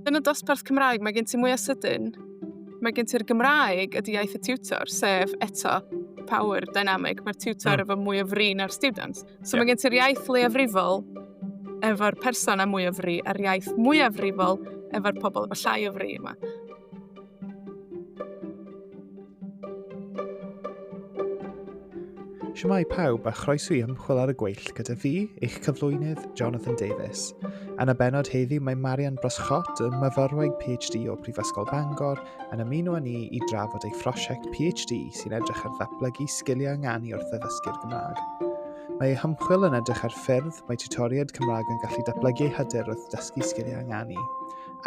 Yn y dosbarth Cymraeg, mae gen ti mwy o sydyn. Mae gen ti'r Gymraeg, ydy iaith y tiwtor, sef eto power dynamic. Mae'r tiwtor mm. efo mwy o fri na'r students. So yeah. mae gen ti'r iaith leiafrifol efo'r person a mwy o fri, a'r iaith mwyafrifol efo'r pobl efo llai o fri yma. Siamai pawb a chroeso i ymchwil ar y gweill gyda fi, eich cyflwynydd, Jonathan Davies. Yn y benod heddiw mae Marian Broscott, y myfyrwraig PhD o Brifysgol Bangor, yn ymuno â ni i drafod ei phrosiect PhD sy'n edrych ar ddatblygu sgiliau ynganu wrth addysgu'r Gymraeg. Mae ei hymchwil yn edrych ar ffyrdd mae tutoriaid Cymraeg yn gallu datblygu ei hyder wrth dysgu sgiliau ynganu.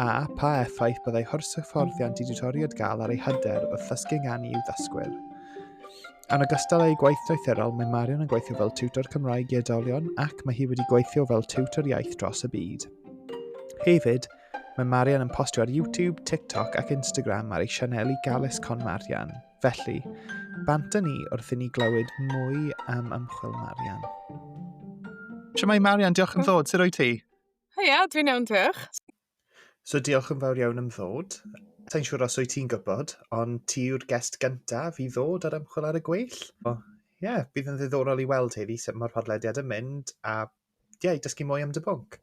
a pha effaith byddai horshyfforddiant i ditoriad gael ar ei hyder wrth ddysgu gan i'w ddysgwyr. Yn ogystal â'i gwaith doethurol, mae Marion yn gweithio fel tiwtor Cymraeg i oedolion ac mae hi wedi gweithio fel tiwtor iaith dros y byd. Hefyd, Mae Marian yn postio ar YouTube, TikTok ac Instagram ar ei sianeli Galus Con Marian. Felly, bant â ni wrth i ni glywed mwy am ymchwil Marian. Siamai Marian, diolch yn ddod. Sut o'i ti? Heia, dwi'n iawn, diolch. So diolch yn fawr iawn am ddod. Sa'n siŵr os wyt ti'n gwybod, ond ti yw'r gest gyntaf i ddod ar ymchwil ar y gweill. O, ie, yeah, bydd yn ddiddorol i weld heddi sut mae'r podlediad yn mynd a ie, yeah, dysgu mwy am dy bwnc.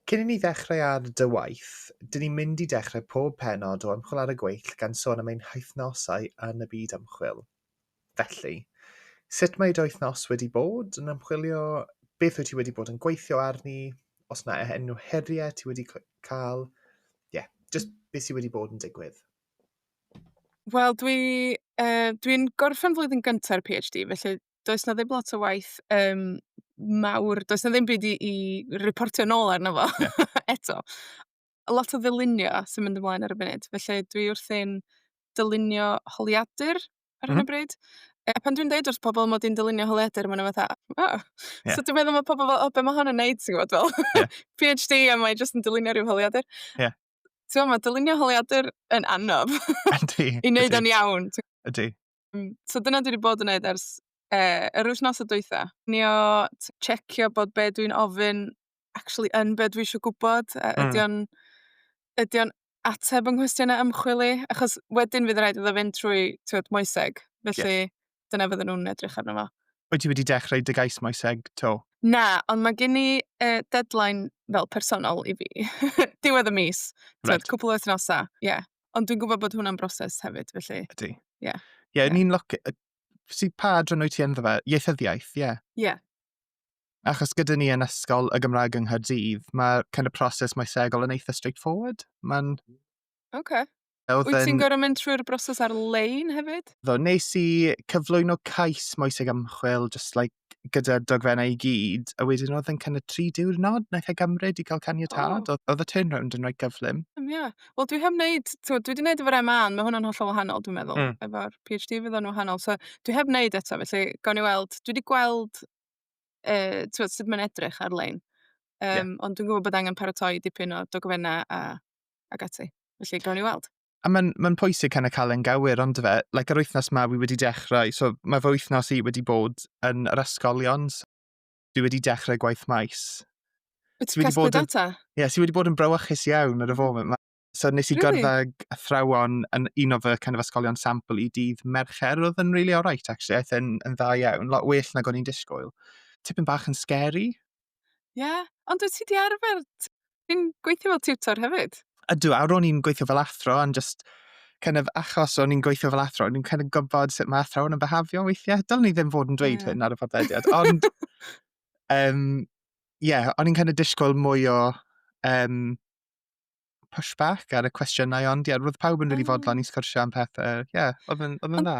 Cyn i ni ddechrau ar dy waith, dyn ni'n mynd i dechrau pob penod o ymchwil ar y gweill gan sôn am ein hythnosau yn y byd ymchwil. Felly, sut mae dy wythnos wedi bod yn ymchwilio? Beth wyt ti wedi bod yn gweithio arni? Os mae enw heriau ti wedi cael? Ie, yeah, just beth sydd wedi bod yn digwydd? Wel, dwi'n uh, dwi gorffen flwyddyn gyntaf PhD, felly does na ddim lot o waith um, mawr, does na ddim byd i, i reportio nôl arno fo yeah. eto. lot o ddylunio sy'n mynd ymlaen ar y funud, felly dwi wrthi'n dylunio holiadur ar hyn o bryd. A pan dwi'n deud wrth pobl mod i'n dylunio holiadur, maen nhw fatha, o! Ie. So dwi'n meddwl mae pobl fel, o, be mae hon yn neud, ti'n gwybod, fel Ie. PhD a mae jyst yn dylunio rhyw holiadur. Ie. Ti'n gwybod, mae dylunio holiadur yn anodd Yndi. i wneud Yndi. o'n iawn. Ti'n- Ydy. Yym so dyna dwi 'di bod yn neud ers yy yr wythnosa dwytha. Cinio, t- checio bod be' dwi'n ofyn actually yn be' dwi isio gwbod a... Hmm. ...ydi o'n ydi o'n ateb 'yn nghwestiyna ymchwil i? Achos wedyn fydd raid iddo fynd trwy t'wod moeseg, felly... Ie. ...dyna fydden nhw'n edrych arno fo. Wyt ti wedi dechrau dy gais moeseg 'to? Na, ond ma' gin i yy deadline fel personol i fi. Diwedd y mis. Reit. T'wod cwpwl o wythnosa, ie. Ond dwi'n gwybod bod hwnna'n broses hefyd, felly... Ydy. Ie. Ie, yeah. yeah. ni'n loc... Si pa adran wyt ti ynddo fe? Ieithyddiaeth, ie. Yeah. Ie. Yeah. Achos gyda ni yn ysgol y Gymraeg yng Nghaerdydd, mae kind of proses maesegol yn eitha straightforward. Mae'n... Oce. Okay. Wyt yn... ti'n gorau mynd trwy'r broses ar-lein hefyd? Ddo, nes i cyflwyno cais moeseg ymchwil, just like gyda'r dogfennau i gyd, a wedyn oedd yn kind of tri diwrnod wnaeth e gymryd i gael caniatad. Oh. Oedd y turnaround yn rhaid gyflym. Ie. Um, yeah. Wel, dwi heb wneud, dwi wedi gwneud efo'r MA, ond mae hwnna'n hollol wahanol, dwi'n meddwl. Mm. Efo'r PhD fydd o'n wahanol. So, dwi heb wneud eto, felly, gawn ni weld. Dwi wedi gweld uh, tywed, sut mae'n edrych ar-lein. Um, yeah. Ond dwi'n gwybod bod angen paratoi dipyn o dogfennau a, ac ati. Felly, gawn ni weld. A mae'n ma pwysig cael y cael yn gywir, ond fe, like, yr wythnos mae fi wedi dechrau, so mae fy wythnos i wedi bod yn yr ysgolion, so fi wedi dechrau gwaith maes. Wyt ti'n casglu data? Ie, yeah, si wedi bod yn brywychus iawn ar y foment. Mm. So nes i really? gyrddau athrawon yn un o fy kind of ysgolion sampl i dydd Mercher, oedd yn really alright actually, aeth yn, yn dda iawn, lot well nag o'n i'n disgwyl. Tipyn bach yn scary, Ie, ond wyt ti 'di arfer... t- Ti'n gweithio fel tiwtor hefyd? Ydw, a ro'n i'n gweithio fel athro, ond just kind of achos o'n i'n gweithio fel athro, o'n i'n kind of gwybod sut mae athrawon yn behafio weithiau. Dylen ni ddim fod yn dweud yeah. hyn ar y podlediad, ond um, yeah, o'n i'n kind of disgwyl mwy o um, pushback ar y cwestiynau, ond yeah, roedd pawb yn rili really fodlon i sgwrsio am pethau. Yeah, oedd yn, oedd yn dda.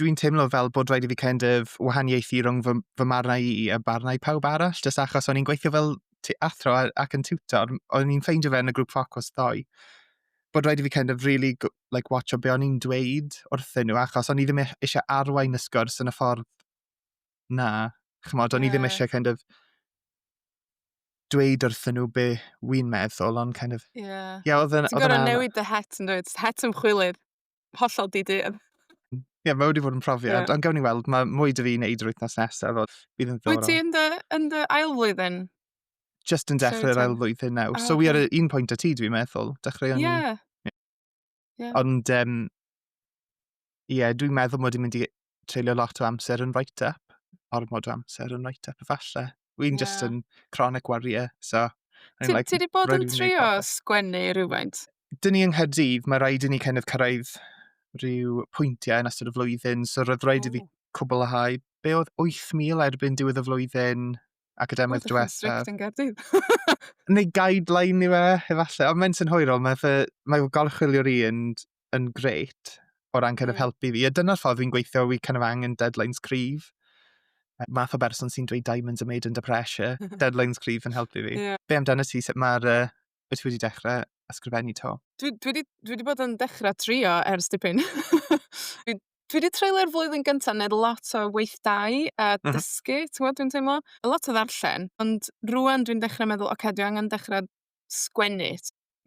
dwi'n teimlo fel bod rhaid i fi kind of wahaniaethu rhwng fy, fy marnau i a barnau pawb arall, jyst achos o'n i'n gweithio fel athro ac yn tutor, o'n i'n ffeindio fe yn y grŵp ffocws ddoe, bod rhaid i fi kind of really like, watch o be o'n i'n dweud wrthyn nhw, achos o'n i ddim e-, eisiau arwain y sgwrs yn y ffordd na. Chymod, o'n yeah. i ddim eisiau kind of dweud wrthyn nhw be wy'n meddwl, ond kind of... Ie. Yeah. Yeah, oedd yn... Ti'n gorau newid dy het yn dweud, het ymchwilydd. hollol di-deall. Ie, yeah, mae wedi bod yn profiad, yeah. ond gawn ni weld, mae mwy dy fi wneud yr wythnos nesaf, oedd bydd yn ddiddorol. Wyt ti yn dy, yn dy ail flwyddyn? Just yn dechrau'r ail flwyddyn nawr. Oh, so, wi ar un pwynt y ti, dwi'n meddwl. Dechrau o'n... Yeah. yeah. Ond, um, ie, yeah, dwi'n meddwl mod i'n mynd i treulio lot o amser yn write up, ormod o amser yn write up efallai. Wy'n yeah. just yn chronic warrior, so... Ti like, wedi bod yn trio sgwennu rhywfaint? Dyn ni yng Nghaerdydd, mae rhaid i ni kind of cyrraedd rhyw pwyntiau yn ystod y flwyddyn, so roedd rhaid i fi cwblhau be oedd 8,000 erbyn diwedd y flwyddyn academaidd diwetha. Oedd yn Gaerdydd. Neu guideline i fe, efallai. Ond mae'n sy'n hwyrol, mae, fe, mae golchwilio'r un yn grêt o ran kind of hmm. helpu fi. A dyna'r ffordd fi'n gweithio, fi kind of angen deadlines cryf. Math o berson sy'n dweud diamonds are made under pressure. deadlines cryf yn helpu fi. Yeah. Be amdano ti, sut mae'r... Uh, beth ti wedi dechrau ysgrifennu to? Dwi, dwi, wedi, dwi wedi bod yn dechrau trio ers dipyn. dwi, dwi wedi treulio'r flwyddyn gyntaf yn lot o weithdai a mhm. dysgu, mm -hmm. ti'n gwybod, dwi'n teimlo? A lot o ddarllen, ond rwan dwi'n dechrau meddwl, oce, okay, dwi angen dechrau sgwennu.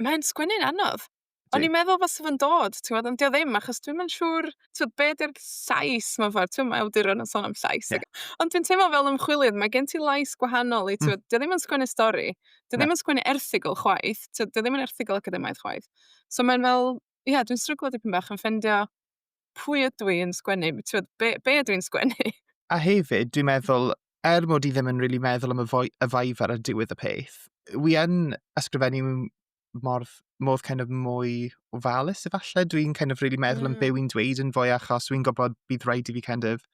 Mae'n sgwennu'n anodd. Yndi. O'n i'n meddwl fase fo'n dod, t'mod, ond 'di o ddim, achos dwi'm yn siŵr, t'mod, be' 'di'r llais mewn ffordd, t'mo' ma' awduron yn sôn am llais ag... Ie. ...ond dwi'n teimlo fel ymchwilydd ma' gen ti lais gwahanol i t'mod... Hmm. ...'di o ddim yn sgwennu stori. 'Di o... Na. ...ddim yn sgwennu erthygl chwaith, t'mod, 'di o ddim yn erthygl academaidd chwaith. So mae'n fel, ie, dwi'n stryglo dipyn bach yn ffeindio pwy ydw i yn sgwennu, b- t'mod, be' be' ydw i'n sgwennu? A hefyd, dwi'n meddwl, er mod i ddim yn rili meddwl am y foi- y Viva ar diwedd y peth, wi yn ysgrifennu m- mor, mor kind of mwy ofalus efallai. Dwi'n kind of really meddwl mm. yn byw i'n dweud yn fwy achos dwi'n gwybod bydd rhaid i fi kind of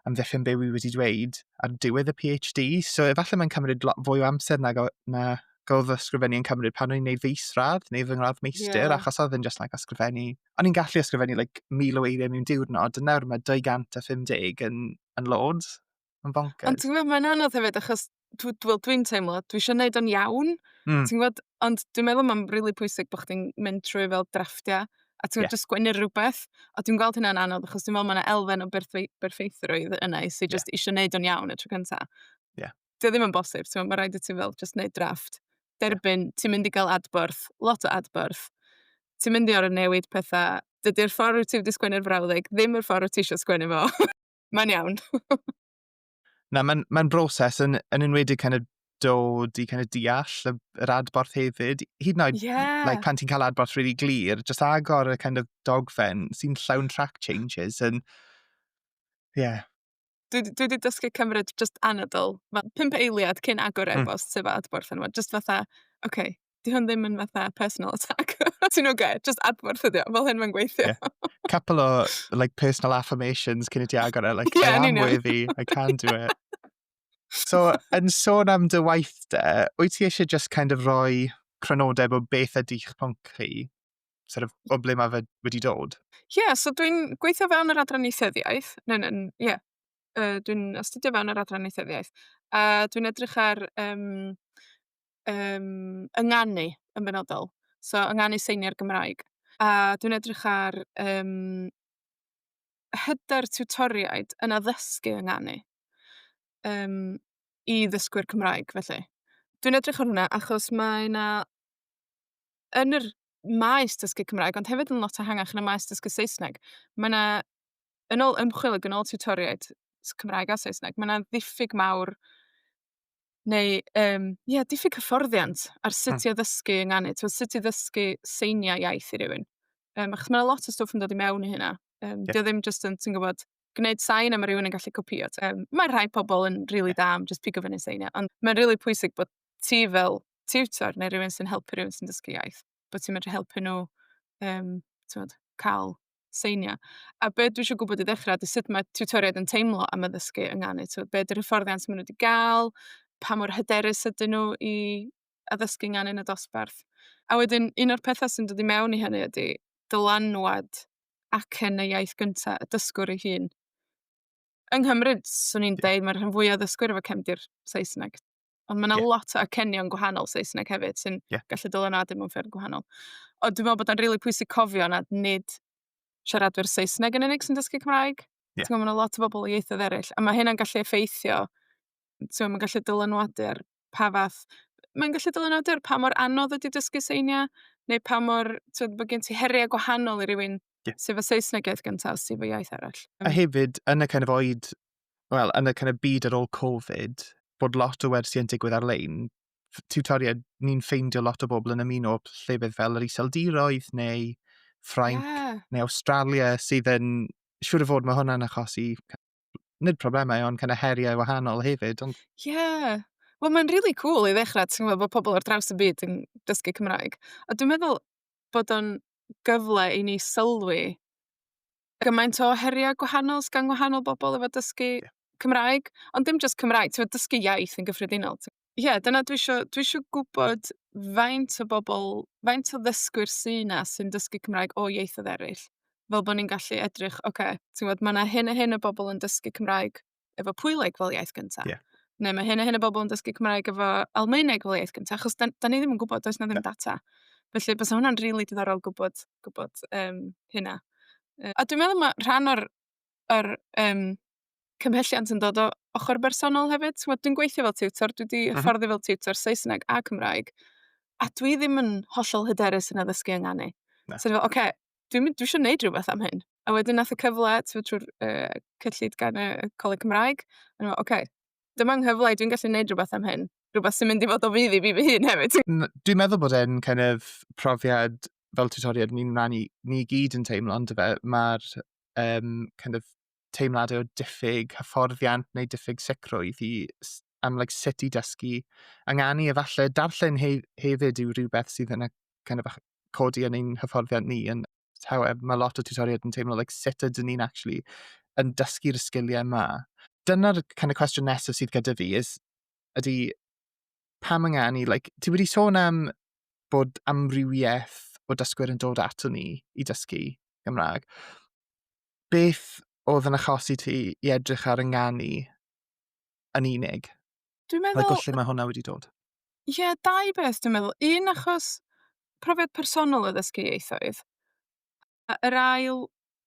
amddiffyn byw i wedi dweud ar diwedd y PhD. So efallai mae'n cymryd lot fwy o amser na, na gael fy ysgrifennu yn cymryd pan o'n i'n neud fy isradd neu fy ngradd meistr yeah. achos oedd yn just like ysgrifennu. O'n i'n gallu ysgrifennu like mil o eiriau mewn diwrnod a nawr mae 250 yn, yn loads. Mae'n bonkers. Ond ti'n gwybod, mae'n anodd hefyd, achos dw- dw- wel, dwi'n teimlo, dwi eisiau gwneud o'n iawn. Mm. Ti'n gwybod? Ond dwi'n meddwl mae'n rili pwysig bod chdi'n mynd trwy fel drafftiau, a ti'n Ie. gwybod, just sgwennu'r rhywbeth. A dwi'n gweld hynna'n anodd, achos dwi'n meddwl mae yna elfen o berthwe- berffeithrwydd yna i sy'n Ie. just eisiau gwneud o'n iawn y tro cyntaf. Ie. Dio ddim yn bosib, ti'n gwybod, mae rhaid i ti fel just gwneud drafft. Derbyn, ti'n mynd i gael adborth, lot o adborth. Ti'n mynd i orau newid pethau. Dydy'r ffordd wyt ti wedi sgwennu'r frawddeg ddim yr ffordd wyt ti eisiau sgwennu fo. mae'n iawn. Na, mae'n mae broses yn, yn enwedig kind of dod i kind of deall y, yr adborth hefyd. Hyd yn oed, yeah. like, pan ti'n cael adborth really glir, just agor y kind of dogfen sy'n llawn track changes yn... Yeah. Dwi, dwi wedi dysgu cymryd just anadl. Mae pimp eiliad cyn agor hmm. e-bost mm. sef adborth yn yma. Just fatha, oce, okay, 'Di hwn ddim yn fatha personal attack. Ti'n oce? Jyst adborth ydi o. Fel hyn mae'n gweithio. Yeah. Couple o, like, personal affirmations cyn i ti agor e. Like, yeah, I am worthy, I can do it. So, yn sôn am dy waith de, wyt ti eisiau just kind of roi cronodeb o beth ydy'ch pwnc chi? Sort of, o ble mae fe wedi dod? Ie, yeah, so dwi'n gweithio fewn yr adran eithyddiaeth. Ne, ne, ie. Yeah. Uh, dwi'n astudio fewn yr adran eithyddiaeth. A uh, dwi'n edrych ar um, yym, ynganu yn benodol, so ynganu seiniau'r Gymraeg. A dwi'n edrych ar, yym, hyder tiwtoriaid yn addysgu ynganu, yym, i ddysgwyr Cymraeg, felly. Dwi'n edrych ar hwnna achos mae 'na, yn yr maes dysgu Cymraeg, ond hefyd yn lot ehangach yn y maes dysgu Saesneg, mae 'na, yn ôl ymchwil ac yn ôl tiwtoriaid s- Cymraeg a Saesneg, mae 'na ddiffyg mawr neu yym, ia, diffyg hyfforddiant ar sut... hmm. ...i addysgu yng nganu. Tibod, sut i ddysgu seiniau iaith i rywun. Yym, achos mae 'na lot o stwff yn dod i mewn i hynna. Yym... Ie. ...'di o ddim jyst yn, ti'n gwybod, gwneud sain a mae rhywun yn gallu copïo. Yym, mae rhai pobl yn rili da am jyst pigo fyny seiniau, ond mae'n rili pwysig bod ti fel tiwtor neu rywun sy'n helpu rywun sy'n dysgu iaith, bod ti'n medru helpu nhw, yym, tibod, cael seinio. A be dwi isio gwybod i ddechrau ydy sut mae tiwtoriaid yn teimlo am addysgu yng Nghanu. Tibod, be 'di'r hyfforddiant maen nhw 'di gael, pa mor hyderus ydyn nhw i addysgu yng Nghanu yn y dosbarth. A wedyn, un o'r pethau sy'n dod i mewn i hynny ydy dylanwad acen y iaith gynta y dysgwr ei hun. Yng Nghymru, 'swn i'n deud, mae'r rhan fwya o ddysgwyr efo cefndir Saesneg. Ond mae 'na... ie. ...lot o acenion gwahanol Saesneg hefyd sy'n... ie. ...gallu dylanwadu mewn ffyrdd gwahanol. Ond dwi'n meddwl bod o'n rili pwysig cofio nad nid siaradwyr Saesneg yn unig sy'n dysgu Cymraeg. Ie. Ti'n gwybod, mae 'na lot o bobl o ieithoedd eraill, a mae hynna'n gallu effeithio, ti'n mae'n gallu dylanwadu ar pa fath... mae'n gallu dylanwadu ar pa mor anodd ydy dysgu seiniau, neu pa mor... ti'n bod gen ti heriau gwahanol i rywun... ie. ...sy efo Saesneg iaith gynta, sy efo iaith arall. A hefyd, yn y kind of oed wel, yn y kind of byd ar ôl Covid, bod lot o wersi yn digwydd ar-lein, tutoriaid, ni'n ffeindio lot o bobl yn ymuno llefydd fel yr Iseldiroedd neu Ffrainc yeah. neu Australia sydd yn, siŵr o fod mae hwnna'n achosi nid problemau ond kind of heriau wahanol hefyd. Ond... Yeah. Wel, mae'n really cool i ddechrau, ti'n gwybod, bod pobl ar draws y byd yn dysgu Cymraeg. A dwi'n meddwl bod o'n gyfle i ni sylwi gymaint o heriau gwahanol sy gan wahanol bobl efo dysgu... Ie. ...Cymraeg, ond dim jyst Cymraeg, timod, dysgu iaith yn gyffredinol, t-... Ie, dyna dwi isio, dwi isio gwybod faint o bobl, faint o ddysgwyr sy 'na sy'n dysgu Cymraeg o ieithoedd eraill, fel bod ni'n gallu edrych, ocê, timod, ma' 'na hyn a hyn o bobl yn dysgu Cymraeg efo Pwyleg fel iaith gyntaf. Yeah. Neu mae hyn a hyn o bobl yn dysgu Cymraeg efo Almaeneg fel iaith gyntaf, achos da, da ni ddim yn gwybod, does na ddim data. Felly, bys hwnna'n rili really diddorol gwybod, gwybod um, hynna. Uh, a dwi'n meddwl mae rhan o'r, or, um, cymhelliant yn dod o ochr bersonol hefyd. Dwi'n gweithio fel tutor, dwi wedi mhm. hyfforddi fel tutor Saesneg a Cymraeg, a dwi ddim yn hollol hyderus yn addysgu yng Nghanu. So, oce, okay, dwi'n mynd, dwi isio neud rwbeth am hyn. A wedyn nath y cyfle, t'mod trw'r yy cyllid gan y y Coleg Cymraeg, o'n i'n me'wl oce, dyma 'nghyfle i, dwi'n gallu neud rwbeth am hyn. Rwbeth sy'n mynd i fod o fudd i fi fy hun hefyd. Dwi'n meddwl bod e'n kind of profiad fel tutoriad ni'n ran i, ni gyd yn teimlo ond fe, mae'r um, kind of teimladau o diffyg hyfforddiant neu diffyg sicrwydd i am like, sut i dysgu. Ynganu efallai, darllen he hefyd yw rhywbeth sydd yn y kind of, codi yn ein hyfforddiant ni. Yn, however, mae lot o tutoriaid yn teimlo like, sut ydyn ni'n actually yn dysgu'r sgiliau yma. Dyna'r kind of cwestiwn nesaf sydd gyda fi, is, ydy pam ynganu, like, ti wedi sôn am bod amrywiaeth o dysgwyr yn dod ato ni i dysgu Gymraeg. Beth oedd yn achosi ti i edrych ar ynganu yn unig. Dwi'n meddwl... Like, o lle mae hwnna wedi dod? Ie, yeah, dau beth dwi'n meddwl. Un, achos profiad personol o ddysgu ieithoedd. A yr ail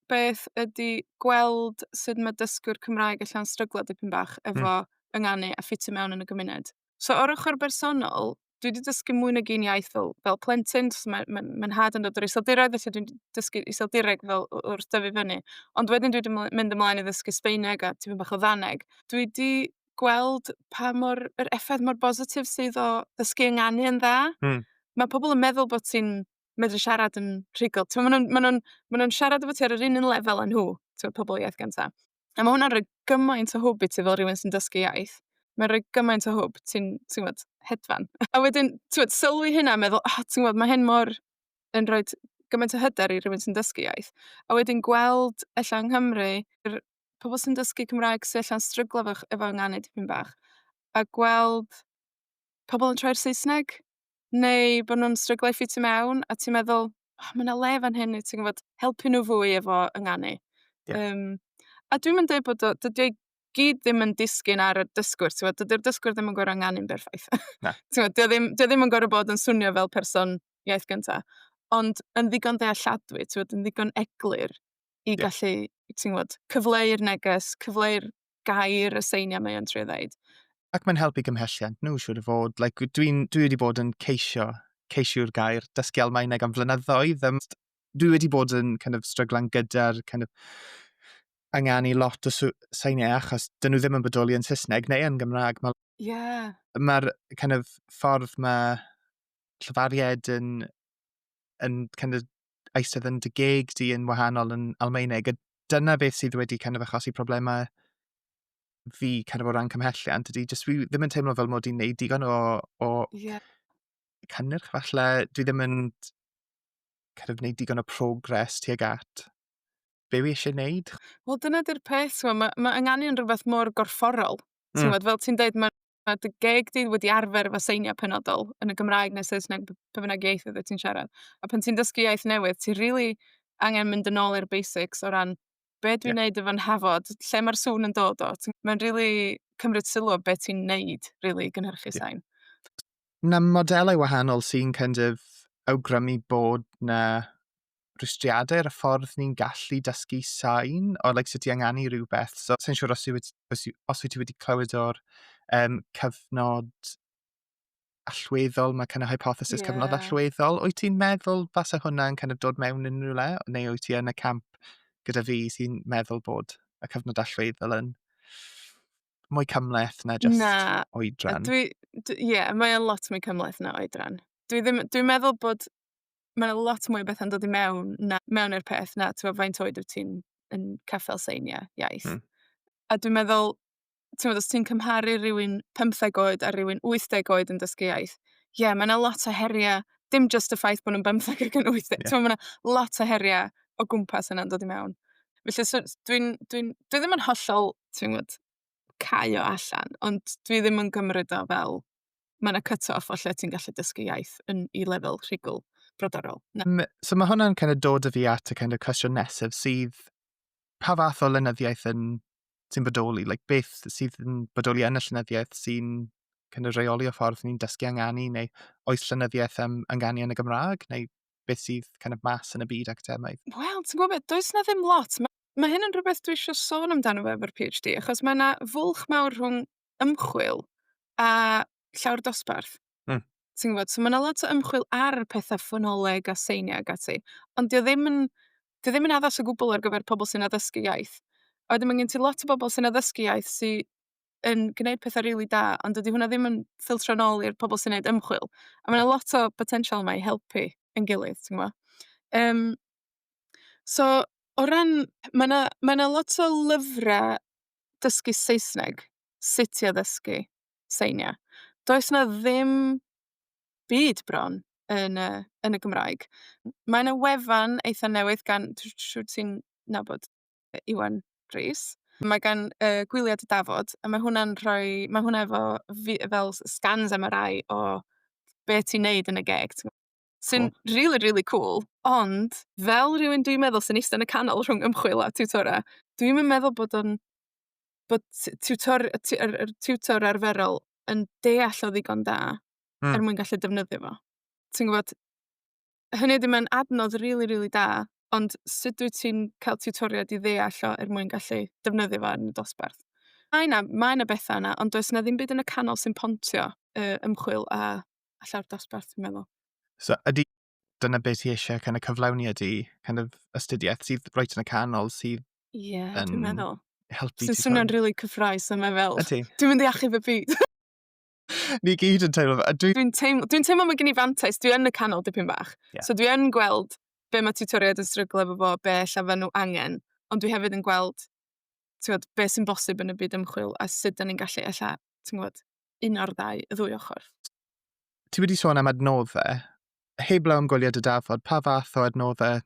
beth ydy gweld sut mae dysgwr Cymraeg ella'n stryglo dipyn bach efo... mm. ...ynganu a ffitio mewn yn y gymuned. So o'r ochr bersonol, dwi wedi dysgu mwy nag un iaith fel fel plentyn, jyst ma' ma' ma' 'nhad yn dod o'r Iseldiroedd, felly dwi'n dysgu Iseldireg fel w- wrth dyfu fyny. Ond wedyn dwi 'di myn- mynd ymlaen i ddysgu Sbaeneg a tipyn bach o Ddaneg. Dwi 'di gweld pa mor... yr effaith mor bositif sydd o ddysgu ynganu yn dda. Hmm. Ma' pobl yn meddwl bot ti'n medru siarad yn rhugl. T'mo' ma' nw'n ma' nw'n ma' nw'n siarad efo ti ar yr un un lefel â nhw, t'mo' pobl o iaith gynta. A ma' hwnna'n rhoi gymaint o hwb i ti fel rywun sy'n dysgu iaith. Mae'n rhoi gymaint o hwb, ti'n ti'n gwbod, hedfan. A wedyn, t'mod, sylwi hynna a meddwl, O, ti'n gwbod, ma' hyn mor, yn rhoid gymaint o hyder i rywun sy'n dysgu iaith. A wedyn gweld ella yng Nghymru, yr pobl sy'n dysgu Cymraeg sy ella'n stryglo efo'ch efo ynganu dipyn bach, a gweld pobl yn troi'r Saesneg. neu bo' nw'n stryglo i ffitio mewn, a ti'n meddwl, O ma' 'na le fan hyn i ti gwbod, helpu nw fwy efo ynganu. Ie. Yym, a dwi'm yn deud bod o, dydi o i gyd ddim yn disgyn ar y dysgwr, t'mod? Dydi'r dysgwr ddim yn gor'o' ynganu'n berffaith. Na. T'mod 'di o ddim 'di o ddim yn gor'o' bod yn swnio fel person iaith gynta. Ond yn ddigon dealladwy, t'mod yn ddigon eglur i... Ie. ...gallu, ti'n gwbod, cyfleu'r neges, cyfleu'r gair y seiniau mae o'n trio ddeud. Ac mae'n helpu gymhelliant nhw, siwr o fod. Like, dwi'n, dwi wedi bod yn ceisio, ceisio'r gair, dysgu Almaeneg am flynyddoedd. Um, dwi wedi bod yn kind of, stryglan gyda'r kind of, anganu lot o seiniau achos dyn nhw ddim yn bodoli yn Saesneg neu yn Gymraeg. Mae'r yeah. ma kind of, ffordd mae llyfariaid yn, yn kind of, eistedd yn dy geg di yn wahanol yn Almaeneg, a dyna beth sydd wedi kind of achosi problemau fi kind of o ran cymhelliant ydy, jyst fi ddim yn teimlo fel mod i'n neud digon o, o yeah. cynnyrch falle, dwi ddim yn kind of neud digon o progres tuag at be wi eisiau neud. Wel dyna di'r peth, mae ma, ma ynganion rhywbeth mor gorfforol. Mm. Ti'n fel ti'n dweud, mae Ma' dy geg di wedi arfer efo seiniau penodol, yn y Gymraeg neu Saesneg, b- be bynnag iaith oeddet ti'n siarad. A pan ti'n dysgu iaith newydd, ti rili angen mynd yn ôl i'r basics o ran be dwi'n Ie. wneud efo nhafod, lle mae'r sŵn yn dod o. Ti'n- Mae'n rili cymryd sylw o be ti'n wneud, rili, i gynhyrchu Ie. sain. Na modelau wahanol sy'n kind of awgrymu bod 'na rhwystriadau ar y ffordd ni'n gallu dysgu sain o like, sut i anganu rhywbeth. So, sy'n siŵr os, wedi, os, os wyt ti wedi clywed o'r um, cyfnod allweddol, mae kind of hypothesis yeah. cyfnod allweddol. Wyt ti'n meddwl fasa hwnna'n kind of dod mewn yn rhywle? Neu wyt ti yn y camp gyda fi sy'n meddwl bod y cyfnod allweddol yn mwy cymleth na just na, oedran? Ie, yeah, mae'n lot mwy cymleth na oedran. Dwi'n dwi meddwl bod mae yna lot mwy o bethau'n dod i mewn na, mewn i'r peth na tibod, faint oed wyt ti'n yn caffael seiniau iaith. Mm. A dwi'n meddwl, tibod, os ti'n cymharu rhywun 15 oed a rhywun 80 oed yn dysgu iaith, ie, yeah, mae yna lot o heriau, dim just y ffaith bod nhw'n 15 ac yn 80, yeah. mae yna lot o heriau o gwmpas yna'n dod i mewn. Felly, so, dwi'n, dwi'n, dwi ddim yn hollol, ti'n gwybod, caio allan, ond dwi ddim yn gymryd o fel mae 'na cut off o lle ti'n gallu dysgu iaith yn, i lefel rhigl brodorol. Um, so mae hwnna'n kind of dod y fi at y kind of cwestiwn nesaf sydd pa fath o lenyddiaeth yn sy'n bodoli, like beth sydd yn bodoli yn y llenyddiaeth sy'n kind of reoli o ffordd ni'n dysgu anganu, neu oes llenyddiaeth am anganu yn y Gymraeg, neu beth sydd kind of mas yn y byd academaidd? Wel, ti'n gwybod beth, does na ddim lot. Mae ma hyn yn rhywbeth dwi eisiau sôn amdano fe efo'r PhD, achos mae yna fwlch mawr rhwng ymchwil a llawr dosbarth. Hmm. Ti'n gwbod? So ma' 'na lot o ymchwil ar petha ffonoleg a seiniau ac ati, ond 'di o ddim yn, 'di o ddim yn addas o gwbwl ar gyfer pobol sy'n addysgu iaith. A wedyn ma' gen ti lot o bobol sy'n addysgu iaith sy yn gneud petha rili da, ond dydy hwnna ddim yn ffiltro nôl i'r pobol sy'n neud ymchwil. A ma' 'na lot o botensial yma i helpu yn gilydd, ti'n gwbo? Yym, so o ran... Ma' 'na ma' 'na lot o lyfra dysgu Saesneg, sut i addysgu seiniau. Does 'na ddim byd bron yn y yn y Gymraeg. Mae 'na wefan eitha newydd gan... dw- dw- siŵr ti'n nabod Iwan Rees. Mae gan yy Gwyliau Dy Dafod, a mae hwnna'n rhoi... mae hwnna efo fi- fel s- scans MRI o be ti'n wneud yn y geg, ti'n gwybod. sy'n oh. really, really cool. Ond, fel rhywun dwi'n meddwl sy'n eistedd yn y canol rhwng ymchwil a tiwtora, dwi'n meddwl bod o'n bod tiwtor, yr, yr tiwtor arferol yn deall o ddigon da mm. er mwyn gallu defnyddio fo. Ti'n gwybod, hynny ydy mae'n adnodd rili, really, rili really da, ond sut dwi ti'n cael tiwtoriad i ddeall o er mwyn gallu defnyddio fo yn y dosbarth? Mae yna, mae yna bethau yna, ond does yna ddim byd yn y canol sy'n pontio uh, ymchwil a a llawr dosbarth, fi'n meddwl. So, ydy dyna beth ti eisiau kind of cyflawni ydy kind of astudiaeth sydd roed yn y canol sydd yeah, yn dwi'n meddwl. helpu Sy'n ti. Sy'n swnio'n rili really cyffroes yma fel. Ydy. Dwi'n mynd i achub y byd. Ni gyd yn teimlo. Dwi'n dwi teimlo, dwi teimlo mae gen i fantais, dwi yn y canol dipyn bach. Yeah. So dwi yn gweld be mae tutoriaid yn stryglo efo fo, be lle fe nhw angen, ond dwi hefyd yn gweld ti'n gwybod, beth sy'n bosib yn y byd ymchwil a sut da ni'n gallu ella, ti'n gwybod, un o'r ddau, y ddwy ochr. Ti wedi sôn am adnoddau. Heblaw am gwyliau dy dafod, pa fath o adnoddau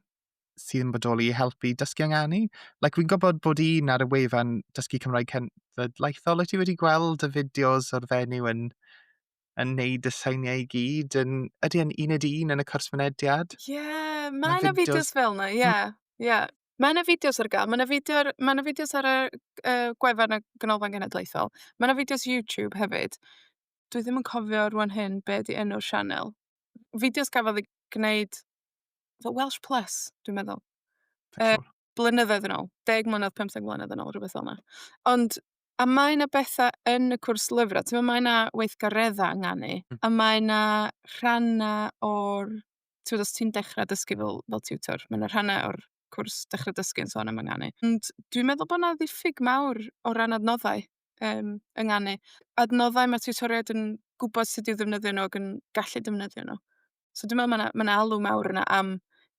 sydd yn bodoli i helpu dysgu anganu? Like, fi'n gwybod bod un ar y wefan Dysgu Cymraeg Cenedlaethol, wyt ti wedi gweld y fideos o'r fenyw yn yn neud y seiniau i gyd yn... Ydy e'n uned un yn y cwrs mynediad? Ie, yeah, mae yna fideos fel yna, ie. Ie. Mae 'na fideos ar gael. Mae 'na fideo ar... mae 'na fideos ar y yy gwefan y Ganolfan Genedlaethol. Mae 'na fideos YouTube hefyd. Dwi ddim yn cofio rŵan hyn be 'di enw'r sianel. Fideos gafodd eu gwneud fel Welsh Plus, dwi'n meddwl. Yy, siŵr. blynyddoedd yn ôl. 10 mlynedd, 15 mlynedd yn ôl, rhywbeth fel 'na. Ond, a mae 'na betha yn y cwrs lyfrau. Timod, mae 'na weithgareddau ynganu... hmm. ...a mae 'na rhannau o'r Tibod, os ti'n dechrau dysgu fel fel tiwtor, ma' 'na rhannau o'r cwrs Dechrau Dysgu yn sôn am ynganu. Ond dwi'n meddwl bod 'na ddiffyg mawr o ran adnoddau, yym, ynganu. Adnoddau ma' tiwtoriaid yn gwbod sut i'w ddefnyddio nhw ac yn gallu defnyddio nhw. So dwi'n meddwl ma' 'na ma' 'na alw mawr yna am,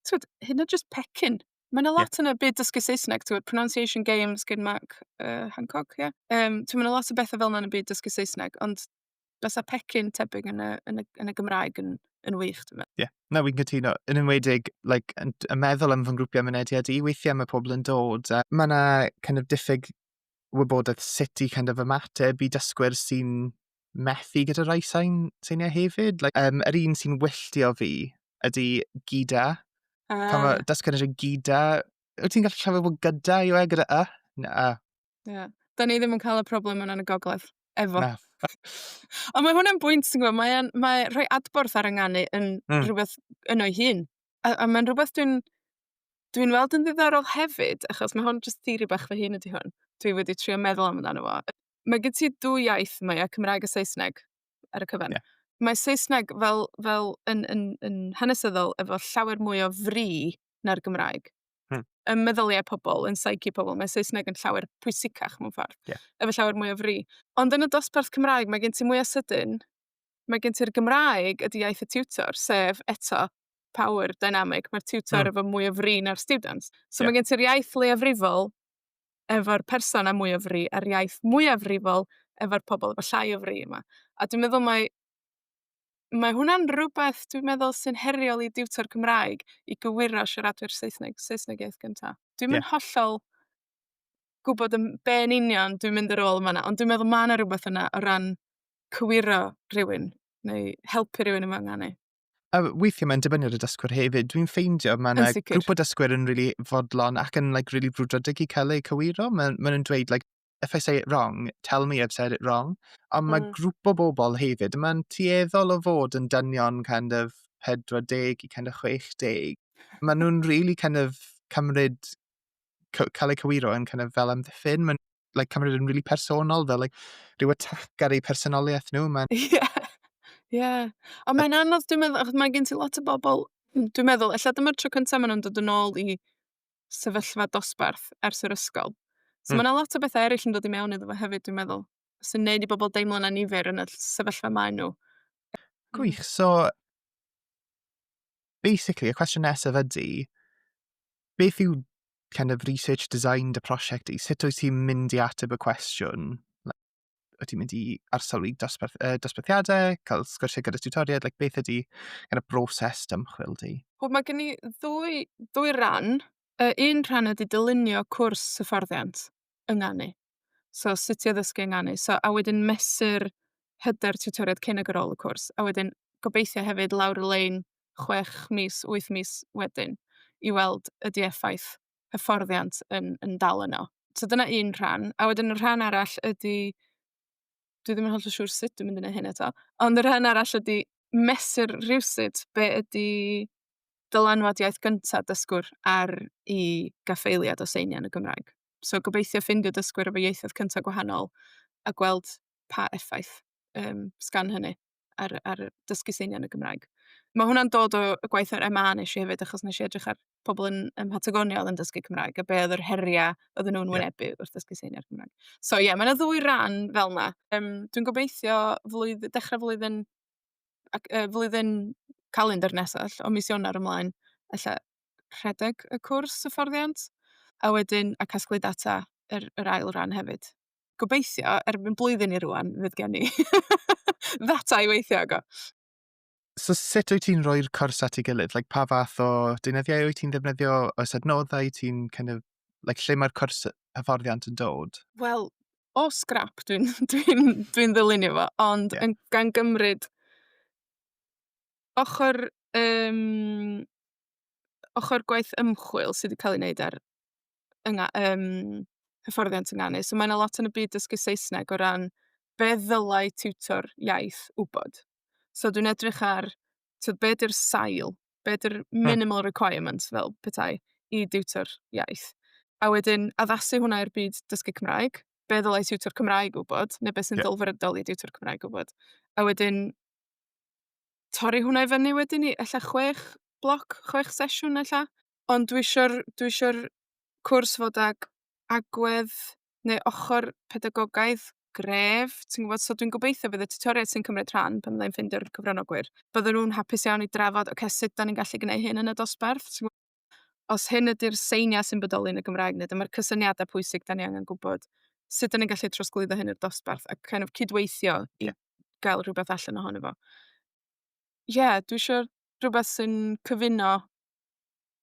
tibod, hyd yn oed jyst pecyn. Ma' 'na lot... ia. ...yn y byd dysgu Saesneg, tibod, pronunciation games gan Mark yy Hancock, ia? Yym, timod, ma' 'na lot o bethe fel 'na yn y byd dysgu Saesneg, ond... bysa pecyn tebyg yn y, yn y, yn y Gymraeg yn, yn wych, dwi'n meddwl. Ie, yeah. na, fi'n cytuno. Yn enwedig, like, yn, yn meddwl am fy ngrwpiau mynediad i, weithiau mae pobl yn dod. A mae yna kind of diffyg wybodaeth sut i kind of ymateb i dysgwyr sy'n methu gyda rhai sain, seiniau hefyd. Like, um, yr un sy'n wylltio fi ydy gyda. Uh. Pan mae dysgwyr yn gyda, wyt ti'n gallu siarad bod gyda i we gyda y? Na, Ie. 'Dan ni ddim yn ca'l y problem yna yn y gogledd, efo. Na. Ond mae hwnna'n bwynt, ti'n gwbo, mae o'n, mae rhoi adborth ar 'yn nganu yn... Hmm. ...rhwbeth yno ei hun, a a mae'n rhwbeth dwi'n, dwi'n weld yn ddiddorol hefyd, achos ma' hwn jyst theori bach fy hun ydi hwn, dwi wedi trio meddwl amdano fo. Mae gen ti dwy iaith, mae o Cymraeg a Saesneg, ar y cyfan. Ie. Mae Saesneg fel fel yn yn yn hanesyddol efo llawer mwy o fri na'r Gymraeg. Hmm. Ym meddyliau pobl, yn psyche pobl, mae Saesneg yn llawer pwysicach mewn ffordd. Yeah. Efo llawer mwy o fri. Ond yn y dosbarth Cymraeg, mae gen ti mwy o sydyn. Mae gen ti'r Gymraeg ydy iaith y tiwtor, sef eto power dynamic. Mae'r tiwtor hmm. efo mwy o fri na'r students. So yeah. mae gen ti'r iaith leiafrifol efo'r person a mwy o fri, a'r iaith mwyafrifol efo'r pobl efo llai o fri yma. A dwi'n meddwl mae mae hwnna'n rwbeth dwi'n meddwl sy'n heriol i diwtor Cymraeg, i gywiro siaradwyr Saesneg, Saesneg iaith gynta. Dwi'm yn... Ie. ...hollol gwbod yn be' yn union dwi'n mynd ar ôl yn fan 'na, ond dwi'n meddwl ma' 'na rwbeth yna o ran cywiro rhywun, neu helpu rywun yn fy nganu. A weithie mae'n dibynnu ar y dysgwr hefyd. Dwi'n ffeindio ma' 'na... Yn sicir. ...grŵp o dysgwyr yn rili fodlon ac yn like rili brwdfrydig i ca'l eu cywiro. Ma'n ma' nw'n dweud like if I say it wrong, tell me I've said it wrong. Ond mm. mae hmm. grŵp o bobl hefyd, mae'n tueddol o fod yn dynion kind of 40 i kind of 60. Mae nhw'n really kind of cymryd, cael eu cywiro yn kind of fel amddiffyn. Mae'n like, cymryd yn really personol, fel like, rhyw atac ar eu personoliaeth nhw. Mae'n... Yeah. Yeah. Ond mae'n anodd, dwi'n meddwl, achos mae gen ti lot o bobl, dwi'n meddwl, efallai dyma'r tro cyntaf maen nhw'n dod yn ôl i sefyllfa dosbarth ers yr ysgol. So mm. mae yna lot o bethau eraill yn dod i mewn iddo fo hefyd, dwi'n meddwl, sy'n neud i bobl deimlo'n anifer yn y sefyllfa maen nhw. Gwych, so basically, y cwestiwn nesaf ydy, beth yw kind of research design dy prosiect i? Sut wyt ti'n mynd i ateb y cwestiwn? wyt ti'n mynd i arsylwi dosbarth, uh, dosbarthiadau, cael sgwrsiau gyda tiwtoriaid, like, beth ydy kind of broses dymchwil di? Wel, mae gen i ddwy, ddwy ran. Uh, un rhan ydy dylunio cwrs hyfforddiant yng Nganu. So, sut i addysgu yng Nganu. So, a wedyn mesur hyder tiwtoriaid cyn ag ar ôl y cwrs. A wedyn gobeithio hefyd lawr y lein chwech mis, wyth mis wedyn i weld ydy effaith hyfforddiant yn yn dal yno. So dyna un rhan. A wedyn y rhan arall ydy... dwi ddim yn hollol siŵr sut dwi'n mynd i wneud hyn eto, ond y rhan arall ydy mesur rywsut be ydy dylanwad iaith gynta dysgwr ar eu gaffeiliad o seiniau yn y Gymraeg. So gobeithio ffeindio dysgwyr efo ieithoedd cynta gwahanol, a gweld pa effaith, yym, sgan hynny. ar ar dysgu seinau yn y Gymraeg. Ma' hwnna'n dod o y gwaith ar MA wnes i hefyd, achos wnes i edrych ar pobl yn ym Mhatagonia oedd yn dysgu Cymraeg, a be oedd yr heriau oedden nhw'n... ie. ...wynebu wrth ddysgu seinau ar y Gymraeg. So ie, ma' 'na ddwy ran fel 'na. Yym, dwi'n gobeithio flwydd- dechrau flwyddyn ac yy flwyddyn calendr nesa 'll, o mis Ionawr ymlaen, ella rhedeg y cwrs hyfforddiant, a wedyn a casglu data yr yr ail ran hefyd. gobeithio, erbyn blwyddyn i rŵan, fydd gen i ddata i weithio ago. So sut wyt ti'n rhoi'r cwrs at ei gilydd? Like, pa fath o deunyddiau wyt ti'n ddefnyddio? Oes adnoddau ti'n kind of... like, lle mae'r cwrs hyfforddiant yn dod? Wel, o scrap dwi'n dwi dwi ddylunio fo, ond... ie. ...yn gan gymryd ochr, yym, ochr gwaith ymchwil sydd wedi cael ei wneud ar yng- yym hyfforddiant ynganu. So mae 'na lot yn y byd dysgu Saesneg o ran be ddylai tiwtor iaith wybod. So dwi'n edrych ar, tibod, be 'di'r sail, be 'di'r... hmm... minimal requirements fel petai i diwtor iaith. A wedyn addasu hwnna i'r byd dysgu Cymraeg. Be ddylai tiwtor Cymraeg wybod, neu be sy'n... ia. ...ddelfrydol i diwtor Cymraeg wybod. A wedyn torri hwnna i fyny wedyn i ella chwech bloc, chwech sesiwn ella. Ond dwi isio'r, dwi isio'r cwrs fod ag agwedd, neu ochor pedagogaidd gref, ti'n gwbod? So dwi'n gobeithio bydd y tiwtoriaid sy'n cymryd rhan, pan fyddai'n ffeindio'r cyfranogwyr, byddan nhw'n hapus iawn i drafod, oce, sut 'dan ni'n gallu gneud hyn yn y dosbarth, ti'n gwbod? Os hyn ydi'r seiniau sy'n bodoli yn y Gymraeg, neu dyma'r cysyniadau pwysig 'dan ni angen gwbod, sut 'dan ni'n gallu trosglwyddo hyn i'r dosbarth, a kind of cydweithio i gael rhywbeth allan ohono fo. Ie, dwi isio rhywbeth sy'n cyfuno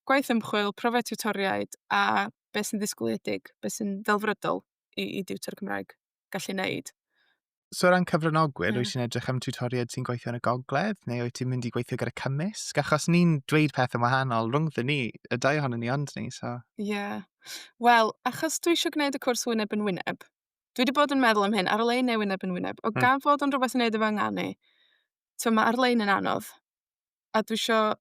gwaith ymchwil, profiad tiwtoriaid, a be sy'n ddisgwyliedig, be sy'n ddelfrydol i i diwtor Cymraeg gallu wneud. So o ran cyfranogwyr, yeah. wyt ti'n edrych am tiwtoriaid sy'n gweithio yn y gogledd, neu wyt ti'n mynd i gweithio gyda cymysg? Achos ni'n dweud peth yn wahanol rhwngddyn ni, y dau ohono ni ond ni, so... Ie. Yeah. Wel, achos dwi eisiau gwneud y cwrs wyneb yn wyneb, dwi wedi bod yn meddwl am hyn, ar-lein neu wyneb yn wyneb, o hmm. gan fod o'n rhywbeth yn neud efo ynganu, ti'n ma ar-lein yn anodd, a dwi eisiau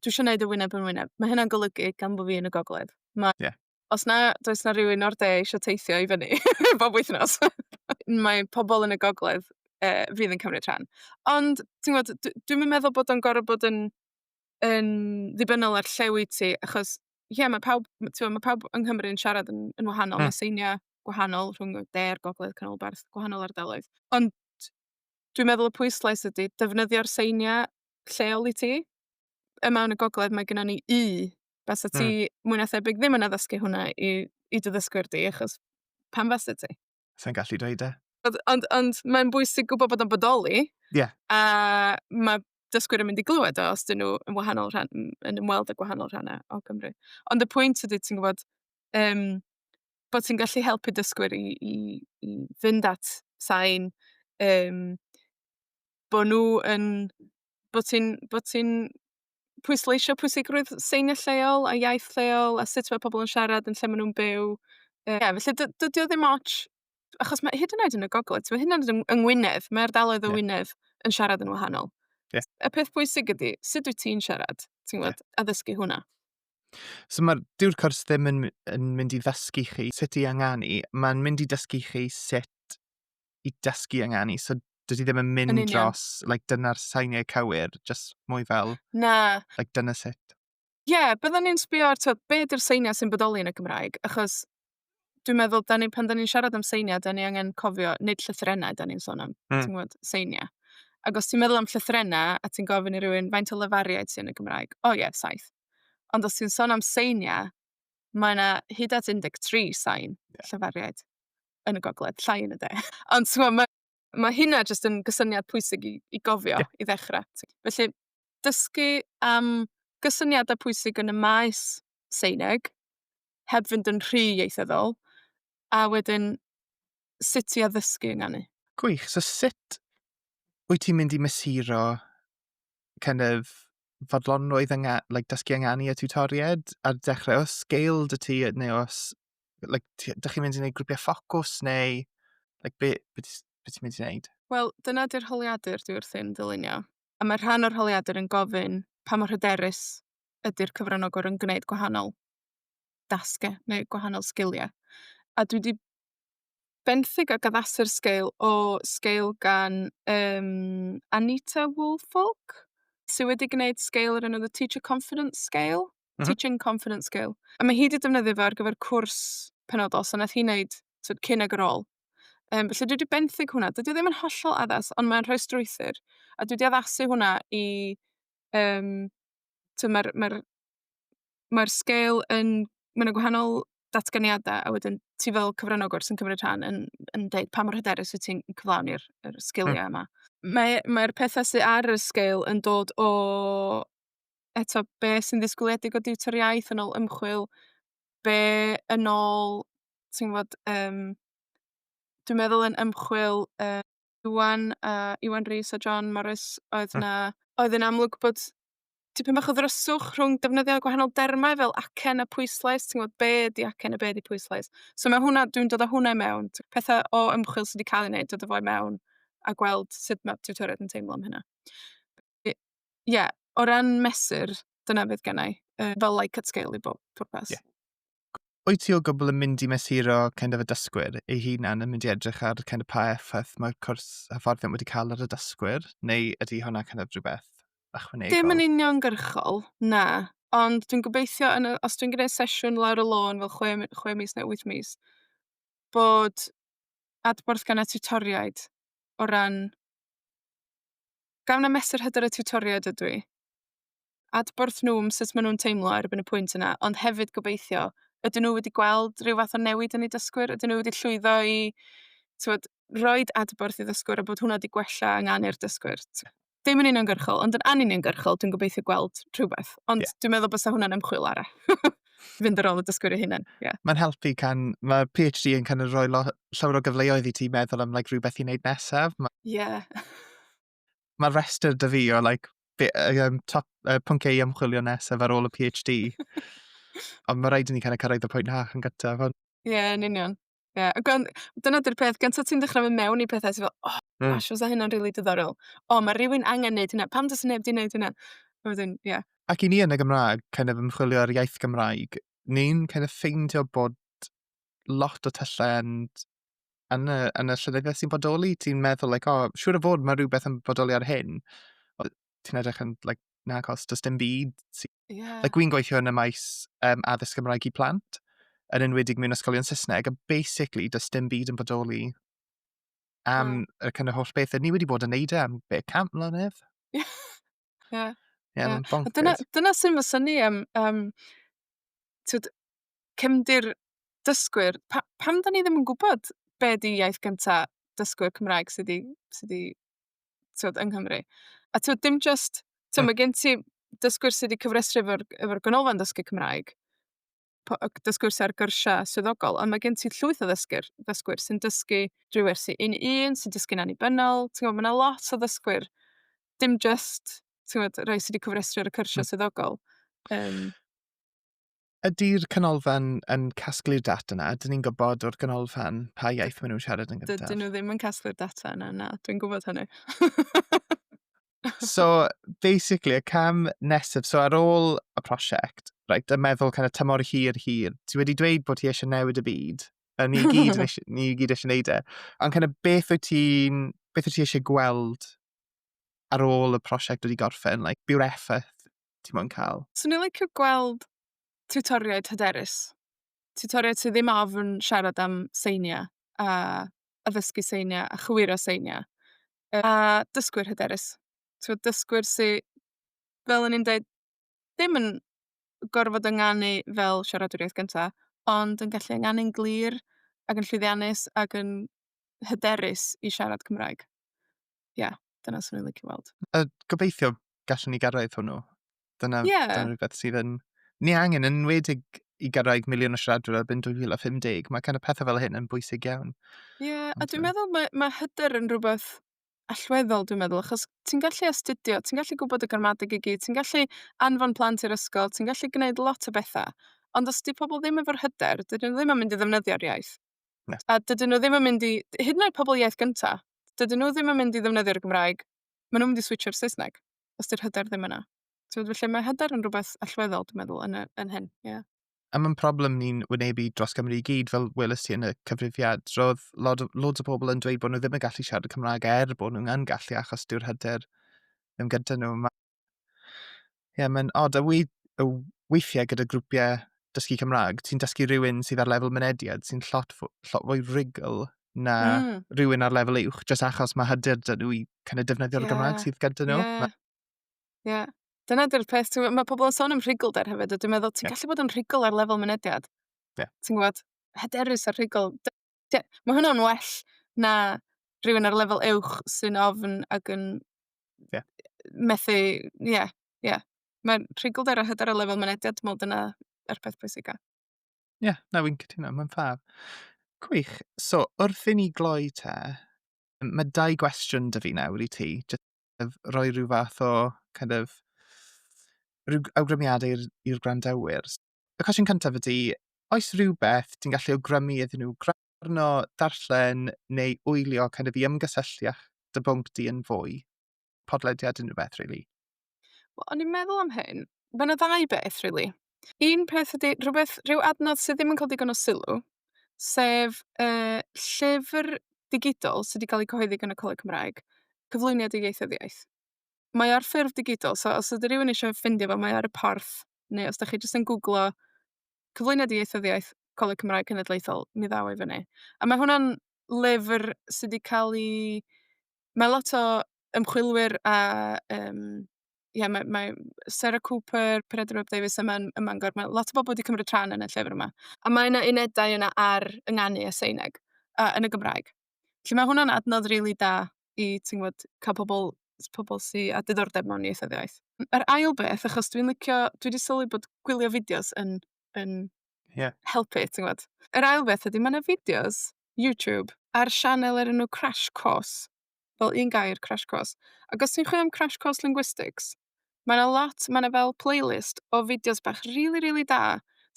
dwi isio neud y wyneb yn wyneb. Mae hynna'n golygu, gan bod fi yn y gogledd, ma'... Ie. ...os na does 'na rywun o'r de isio teithio i fyny bob wythnos mae pobl yn y gogledd yy fydd yn cymryd rhan. Ond ti'n gwybod, dw- dwi'm yn meddwl bod o'n gorfod bod yn yn ddibynnol ar lle wyt ti, achos ie, mae pawb, m- ti'n gwybod, mae pawb yng Nghymru yn siarad yn, yn wahanol, Mm. mae seiniau gwahanol rhwng y de a'r gogledd, canolbarth, gwahanol ardaloedd. Ond dwi'n meddwl y pwyslais ydy defnyddio'r seiniau lleol i ti. Yma yn y gogledd mae gennon ni U. Fasa ti... Hmm. ...mwy na thebyg ddim yn addysgu hwnna i i dy ddysgwyr di, achos pam fasa ti? Sa'n gallu dweud e. Ond, ond, ond mae'n bwysig gwybod bod o'n bodoli. Yeah. A mae dysgwyr yn mynd i glywed o os dyn nhw yn wahanol rhan, yn ymweld â gwahanol rhannau o Gymru. Ond y pwynt ydy, ti'n gwybod, um, bod ti'n gallu helpu dysgwyr i, i, i fynd at sain, um, bo' nhw yn, bo' ti'n, bo' ti'n pwysleisio pwysigrwydd seinio lleol a iaith lleol a sut ma' pobol yn siarad yn lle ma' nw'n byw. Yy, ie, felly dy- dydi o ddim otsh, achos ma' hyd yn oed yn y Gogledd, t'mod hyd yn oed yn yng Ngwynedd, ma' ardaloedd o Wynedd yn siarad yn wahanol. Ie. Y peth bwysig ydi sut wyt ti'n siarad, ti'n gwbod, a ddysgu hwnna. So mae'r dyw'r cwrs ddim yn, yn mynd i ddysgu chi sut i anganu, mae'n mynd i dysgu chi sut i dysgu ynganu, so dwi ddim yn mynd yn dros, like, dyna'r sainiau cywir, just mwy fel... Na. ...like, dyna sut. Ie, yeah, byddwn ni'n sbio ar, tywed, be ydy'r seiniau sy'n bodoli yn y Gymraeg, achos dwi'n meddwl, da ni, pan da ni'n siarad am seiniau, da ni angen cofio, nid llythrenau da ni'n sôn am, mm. ti'n gwybod, seiniau. Ac os ti'n meddwl am llythrenau, a ti'n gofyn i rywun faint o lefariaid sy'n y Gymraeg, o oh, ie, yeah, saith. Ond os ti'n sôn am seiniau, mae yna hyd at 13 sain yeah. llyfariaid. yn y gogledd, llai yn y de. Ond timod, ma' ma' hynna jyst yn gysyniad pwysig i i gofio... ia. ...i ddechrau. Felly, dysgu am gysyniadau pwysig yn y maes Seineg, heb fynd yn rhy ieithyddol, a wedyn sut i addysgu ynganu. Gwych. So sut wyt ti'n mynd i mesuro kind of fodlonrwydd yng ngha- like dysgu ynganu a tiwtoriaid ar dechrau? Oes sgil 'da ti neu oes like, dych chi'n mynd i wneud grwpiau ffocws neu like, be, be, be ti'n mynd i wneud? Wel, dyna di'r holiadur dwi wrthi'n ddylunio. A mae rhan o'r holiadur yn gofyn pa mor hyderus ydy'r cyfranogwr yn gwneud gwahanol dasgau neu gwahanol sgiliau. A dwi wedi benthyg ac addasu'r sgeil o sgeil gan um, Anita Woolfolk, sydd wedi gwneud sgeil o'r enw The Teacher Confidence Scale. Teaching Confidence Scale. A mae hi 'di defnyddio fe ar gyfer cwrs penodol, so wnaeth hi wneud tibod cyn ac ar ôl. Yym, felly dwi 'di benthyg hwnna. Dydy o ddim yn hollol addas, ond mae'n rhoi strwythur, a dwi 'di addasu hwnna i yym... Tibod ma'r ma'r ma'r sgêl yn... ma' 'na gwahanol ddatganiadau, a wedyn ti fel cyfranogwr sy'n cymryd rhan yn yn deud pa mor hyderus wyt ti'n cyflawni'r yr sgiliau yma. Mae mae'r petha sy ar y sgêl yn dod o eto be' sy'n ddisgwyliedig o diwtor iaith yn ôl ymchwil, be' yn ôl ti'n gwbod yym, dwi'n meddwl yn ymchwil yy Iwan a Iwan Rees a John Morris oedd 'na, oedd yn amlwg bod tipyn bach o ddryswch rhwng defnyddio gwahanol dermau fel acen a pwyslais, ti'n gwbod be' ydi acen a be' ydi pwyslais. So ma' hwnna, dwi'n dod â hwnna i mewn, t- petha o ymchwil sy 'di ca'l 'u neud, dod â fo i mewn, a gweld sut ma' tiwtoriaid yn teimlo am hynna. ie, o ran mesur, dyna fydd gennau, yy, fel like at scale i bob pwrpas. Ie. Wyt ti o gwbl yn mynd i mesuro kind of y dysgwyr ei hunan yn mynd i edrych ar kind of pa effaith mae'r cwrs hyfforddiant wedi cael ar y dysgwyr, neu ydy hwnna kind of rhywbeth ychwanegol? Dim yn uniongyrchol, na. Ond dwi'n gobeithio yn y... os dwi'n gwneud sesiwn lawr y lôn fel chwe mi- chwe mis neu wyth mis, bod adborth gan y tiwtoriaid o ran Gawn na mesur hyder y tiwtoriaid ydw i. Adborth nhw am sut maen nhw'n teimlo erbyn y pwynt yna, ond hefyd gobeithio, ydyn nhw wedi gweld rhyw fath o newid yn eu dysgwyr? Ydyn nhw wedi llwyddo i tywed, roed adborth i ddysgwyr a bod hwnna wedi gwella angen i'r dysgwyr? Dim yn uniongyrchol, ond yn anuniongyrchol, dwi'n gobeithio gweld rhywbeth. Ond yeah. dwi'n meddwl bod hwnna'n ymchwil arall. fynd ar ôl y dysgwyr ei hunain. Yeah. Mae'n helpu can, mae PhD yn kind of rhoi lo, llawer o gyfleoedd i ti meddwl am like, rhywbeth i wneud nesaf. Mae yeah. ma restr dy fi o like, be, um, top, uh, pwnc ei ymchwilio nesaf ar ôl y PhD. Ond mae rhaid i ni kind of cyrraedd y pwynt na yn gyntaf. Ie, yeah, yn union. Ie, a gan- dyna 'di'r peth, gan 't ti'n dechra myn' mewn i pethe ti fel o... Hmm. ...gosh fysa hynna'n rili diddorol. O ma' rywun angen neud hwnna, pam do's neb 'di neud hwnna? A wedyn, ie. Ac i ni yn y Gymraeg, kind of ymchwilio ar iaith Gymraeg, ni'n kind of ffeindio bod lot o tyllau yn yn y yn y llenyddiaeth sy'n bodoli, ti'n meddwl like o siŵr o fod ma' rhywbeth yn bodoli ar hyn. ti'n edrych yn, like, na, cos does dim byd. Yeah. Like, Gwy'n gweithio yn y maes um, addysg Gymraeg i plant, yn enwedig mewn ysgolion Saesneg, a basically, does dim byd yn bodoli am yeah. y kind of holl beth. Ni wedi bod yn neud e am beth cant mlynedd. Ie. yeah. yeah, yeah. Dyna, dyna sy'n fy syni am um, twyd, cymdir dysgwyr. Pa, pam da ni ddim yn gwybod be di iaith gyntaf dysgwyr Cymraeg sydd wedi sy timod, yng Nghymru. A timod, dim jyst... Tibod, mae gen ti dysgwyr sy 'di cyfrestru efo'r efo'r Ganolfan Dysgu Cymraeg, p- yy dysgwyr sy ar gyrsiau swyddogol, ond mae gen ti llwyth o ddysgwyr ddysgwyr sy'n dysgu drwy wersi un i un, sy'n dysgu'n annibynnol. Tibod, mae 'na lot o ddysgwyr, dim jyst, tibod, rhai sy 'di cyfrestru ar y cyrsiau... mm. ...swyddogol. Yym. Ydy'r canolfan yn casglu'r data yna? Ydyn ni'n gwybod o'r canolfan pa iaith maen nhw'n siarad yn gyntaf? Dydyn nhw ddim yn casglu'r data yna, na, dwi'n gwybod hynny. so, basically, y cam nesaf, so ar ôl y prosiect, right, y meddwl kind of tymor hir hir, ti wedi dweud bod ti eisiau newid y byd, a ni gyd, eisiau, ni gyd eisiau neud e, ond kind of beth wyt ti'n, beth wyt ti eisiau gweld ar ôl y prosiect wedi gorffen, like, byw'r effaith ti mo'n cael. Swn i'n licio gweld tiwtoriaid hyderus. Tiwtoriaid sy ddim ofn siarad am seiniau, a addysgu seiniau, a chywiro seiniau. Yy a dysgwyr hyderus. T'mod dysgwyr sy, fel o'n i'n deud, ddim yn gorfod ynganu fel siaradwyr iaith gynta, ond yn gallu ynganu'n glir, ac yn llwyddiannus, ac yn hyderus i siarad Cymraeg. ie, dyna swn i'n licio weld. A gobeithio gallwn ni gyrraedd hwnnw. Dyna, Ie. dyna rhywbeth sydd yn... Ni angen yn enwedig i gyrraedd miliwn o siaradwyr erbyn 2050. Mae kind of pethau fel hyn yn bwysig iawn. Ie, a Ond, dwi'n yy, meddwl mae, mae hyder yn rhywbeth allweddol, dwi'n meddwl, achos ti'n gallu astudio, ti'n gallu gwybod y gramadeg i gyd, ti'n gallu anfon plant i'r ysgol, ti'n gallu gwneud lot o bethau. Ond os di pobl ddim efo'r hyder, dydyn nhw ddim yn mynd i ddefnyddio'r iaith. Na. A dydyn nhw ddim yn mynd i... hyd yn oed pobl iaith gynta', dydyn nhw ddim yn mynd i ddefnyddio'r Gymraeg, maen nhw'n mynd i switsio i'r Saesneg, os 'di'r hyder ddim yna. Tibod, felly mae hyder yn rhywbeth allweddol, dwi'n meddwl, yn y yn hyn, ie. A mae'n problem ni'n wynebu dros Gymru i gyd, fel welais ti yn y cyfrifiad. Roedd lod o- loads o pobl yn dweud bod nhw ddim yn gallu siarad y Cymraeg er bod nhw'n yn gallu achos dyw'r hyder ddim gyda nhw. Ma' Ie, yeah, mae'n od. A wy, y weithiau gyda grwpiau dysgu Cymraeg, ti'n dysgu rhywun sydd ar lefel mynediad sy'n llot, llot fwy rigl na mm. rhywun ar lefel uwch, jyst achos mae hyder dyn nhw i kind of defnyddio'r yeah. Gymraeg sydd gyda nhw. Ie. Yeah. Ma... Yeah. Dyna dy'r peth, ti'n mae pobl yn sôn am rhugl-der hefyd, a dwi'n meddwl, ti'n yeah. gallu bod yn rhugl ar lefel mynediad. Yeah. Ti'n gwybod, hyderus ar rhugl. Ie, ma' hwnna'n well na rhywun ar lefel uwch sy'n ofn ac yn... Ie. ...methu, ie, ie. Mae rhugl-dŷr a hyder ar lefel mynediad, dwi'n meddwl dyna yr peth pwysica. Ie, na, fi'n cytuno, mae'n ffab. Gwych. So, wrth i ni gloi te, mae dau gwestiwn da fi nawr i ti, jyst kind of rhoi rhyw fath o kind of rhyw awgrymiadau i'r i'r gwrandawyr. y cwestiwn cyntaf ydy, oes rhywbeth ti'n gallu awgrymu iddyn nhw gwrando, darllen neu wylio kind of, i ymgysylltu â dy bwnc di yn fwy? Podlediad unrhyw beth, really. Wel, o'n i'n meddwl am hyn. Mae yna ddau beth, really. Un peth ydy rhywbeth rhyw adnodd sydd ddim yn cael digon o sylw, sef y llyfr digidol sydd wedi cael ei cyhoeddi gan y Coleg Cymraeg, Cyflwyniad i Ieithoedd Iaith. Mae o ar ffurf digidol, so os ydy rhywun eisiau ffeindio fo, mae o ar y porth. neu os dach chi jyst yn gwglo cyflwyniad ieithyddiaeth Coleg Cymraeg Cenedlaethol, mi ddaw o i fyny. A mae hwnna'n lyfr sy 'di cael ei... Mae lot o ymchwilwyr a yym ie mae mae Sarah Cooper, Peredur Webb Davies yma yn Mangor, mae lot o bobl wedi cymryd rhan yn y llyfr yma. A mae 'na unedau yna ar ynganu a Saesneg a yn y Gymraeg. Felly mae hwnna'n adnodd rili da i, ti'n gwybod, cael pobl, s- pobl sy â diddordeb mewn ieithoedd eraill. Yr ail beth, achos dwi'n licio... dwi 'di sylwi bod gwylio fideos yn yn... ie... helpu, ti'n gwybod. Yr ail beth ydy, mae 'na fideos YouTube ar sianel o'r enw Crash Course, fel un gair, Crash Course. Ac os ti'n chwilio am Crash Course Linguistics, Mae 'na lot, mae 'na fel playlist o fideos bach rili, rili da,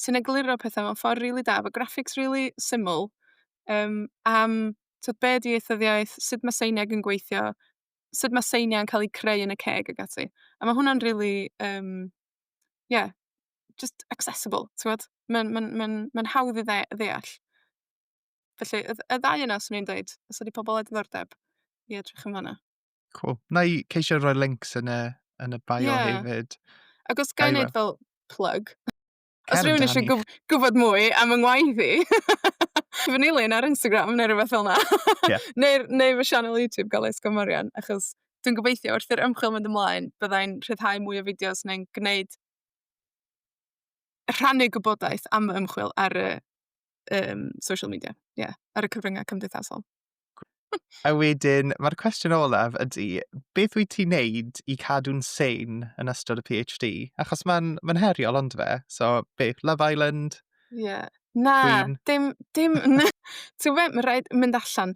sy'n egluro petha mewn ffor rili da, efo graphics rili syml, yym, am t'od be' 'di ieithyddiaeth, sut ma' seiniaid yn gweithio, sut ma' seinia'n ca'l 'u creu yn y ceg ag ati. A ma' hwnna'n rili, yym, ie, jyst accessible, t'mod? Ma'n ma'n ma'n ma'n hawdd i dde- ddeall. Felly, y dd- y ddau yna 'swn i'n deud, os ydi pobol â diddordeb, i edrych amdana. Cŵl. Wna i ceisio rhoi links yn y yn y bio... Ie. ...hefyd. Ac os ga i neud fel plug? Cer amdani. Os rywun isio gwb- gwbod mwy am fy ngwaith i fy nilyn ar Instagram neu rywbeth fel 'na. Ie. Neu'r neu fy sianel YouTube Galais Gomorian achos dwi'n gobeithio wrth i'r ymchwil mynd ymlaen bydda i'n rhyddhau mwy o fideos neu'n gwneud rhannu gwybodaeth am fy ymchwil ar y yym social media. Ie, ar y cyfryngau cymdeithasol. A wedyn, mae'r cwestiwn olaf ydy, beth wyt ti'n neud i cadw'n sein yn ystod y PhD? Achos mae'n ma heriol, ond fe? So, beth, Love Island? Ie. Yeah. Na, Queen. dim, dim, na. Ti'n gwybod, mae'n rhaid mynd allan.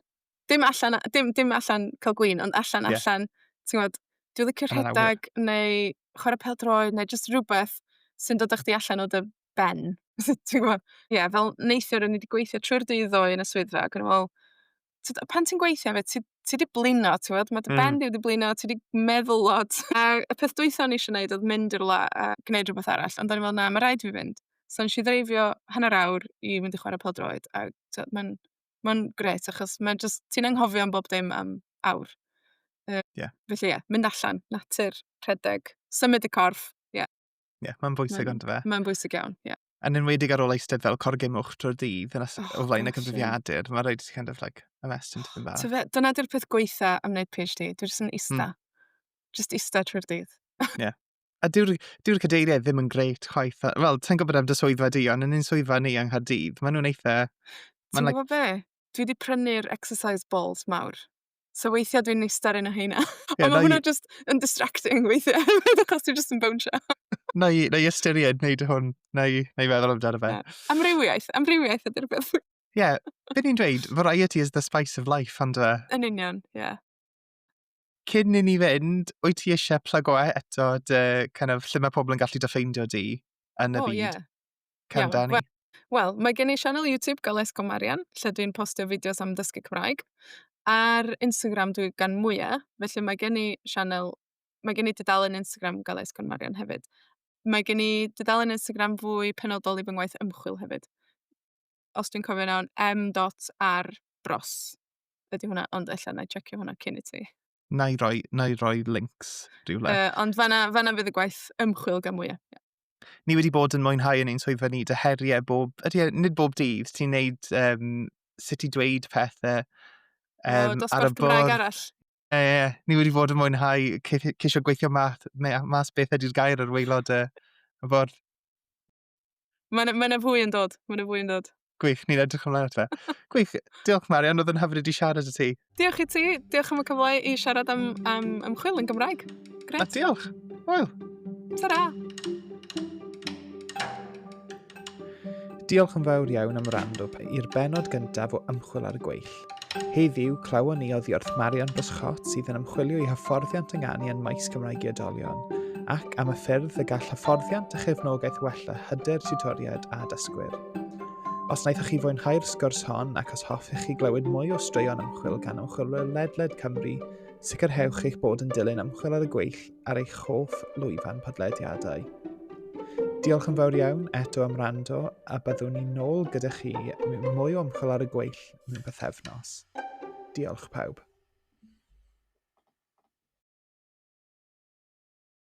Dim allan, dim, dim allan cael gwyn, ond allan, yeah. allan. Ti'n gwybod, dwi'n licio rhedeg neu chwarae pel droed neu jyst rhywbeth sy'n dod â chdi allan o dy ben. Ti'n gwybod? Ie, fel neithiwr o'n i 'di gweithio trwy'r dydd ddoe yn y swyddfa ac o'n i'n meddwl, tibod, a pan ti'n gweithio hefyd ti ti 'di blino, ti'n gwybod, ma' dy... mm. ...ben di wedi blino, ti 'di meddwl lot. A y peth dwytha o'n i eisiau gwneud oedd mynd i rywle a gwneud rhywbeth arall, ond o'n i'n meddwl, na, mae rhaid i fi fynd. So nes i ddreifio hanner awr i fynd i chwarae pêl droed a tibod mae'n mae'n grêt achos mae jyst ti'n anghofio am bob dim am awr. Yy... Ie. ...felly ie, mynd allan, natur, rhedeg, symud y corff. yeah, mae'n bwysig mae'n, ond fe. Mae'n bwysig iawn, ie. Yeah. Yn enwedig ar ôl eistedd fel corgym o'ch trwy'r dydd yn oh, o flaen y cyfrifiadur, mae'n rhaid i ti kind of like a mess into the bar. Fe, dyna di'r peth gweitha am wneud PhD, dwi'n just yn ista. Mm. Just ista trwy'r dydd. Ie. yeah. A dyw'r dyw cadeiriau ddim yn greit chwaith. Wel, ti'n gwybod am dy swyddfa di, ond yn un swyddfa ni yng Nghaerdydd, maen nhw'n eitha... Ti'n gwybod like... be? Dwi wedi prynu'r exercise balls mawr. So weithia' dwi'n ista ar un o rheina. Ie, 'nai... Ond ma' hwnna jyst yn distracting weithie hefyd achos ti jyst yn bownsio. 'Nai 'nai ystyried neud hwn. 'Nai 'nai feddwl amdano fe. Ie. Amrywiaeth amrywiaeth ydi'r peth. Ie. Be' ni'n dweud, variety is the spice of life yndyw e? Yn union, ie. Cyn i ni fynd, wyt ti isie plygo e- eto dy kind of lle ma' pobol yn gallu dy ffeindio di yn y byd? O ie. Cân Iawn, Dani. wel- Wel, mae gen i sianel YouTube, Goles Co Marian, lle dwi'n postio fideos am dysgu Cymraeg. Ar Instagram dwi gan mwya, felly mae gen i sianel... mae gen i dudalen Instagram, Goles Con Marian hefyd. Mae gen i dudalen Instagram fwy penodol i fy ngwaith ymchwil hefyd, os dwi'n cofio'n iawn, em dot ar bros ydy hwnna, ond ella wna i tsecio hwnna cyn i ti. na i roi, na i roi links rhywle. Uh, ond fanna, fanna fydd y gwaith ymchwil gan mwyaf. Yeah. Ni wedi bod yn mwynhau yn ein swyddfa ni dy heriau bob, ydy, e, nid bob dydd, ti'n neud um, sut i dweud pethau um, o, ar y bwrdd. arall. E, e, ni wedi bod yn mwynhau ceisio gweithio math, mas beth ydy'r gair ar weilod y, y bwrdd. Mae yna ma fwy yn dod, mae yna fwy yn dod. Gwych, ni'n edrych ymlaen at fe. Gwych, diolch Marian, oedd yn hyfryd i siarad y ti. Diolch i ti, diolch am y cyfle i siarad am, am ymchwil yn Gymraeg. Gret. A diolch. Wel. Ta-ra. Diolch yn fawr iawn am rando i'r benod gyntaf o Ymchwil ar y Gweill. Heddiw, clywon ni oddi wrth Marion Byscott sydd yn ymchwilio i hyfforddiant ynganu yn maes Cymraeg i oedolion, ac am y ffyrdd y gall hyfforddiant a chefnogaeth wella hyder tiwtoriaid a dysgwyr. Os wnaethoch chi fwynhau'r sgwrs hon ac os hoffech chi glywed mwy o straeon ymchwil gan ymchwilwyr ledled Cymru, sicrhewch eich bod yn dilyn ymchwil ar y gweill ar eich hoff lwyfan podlediadau. Diolch yn fawr iawn eto am rando a byddwn ni'n nôl gyda chi mewn mwy o ymchwil ar y gweill Cymraeg mewn bythefnos. Diolch pawb.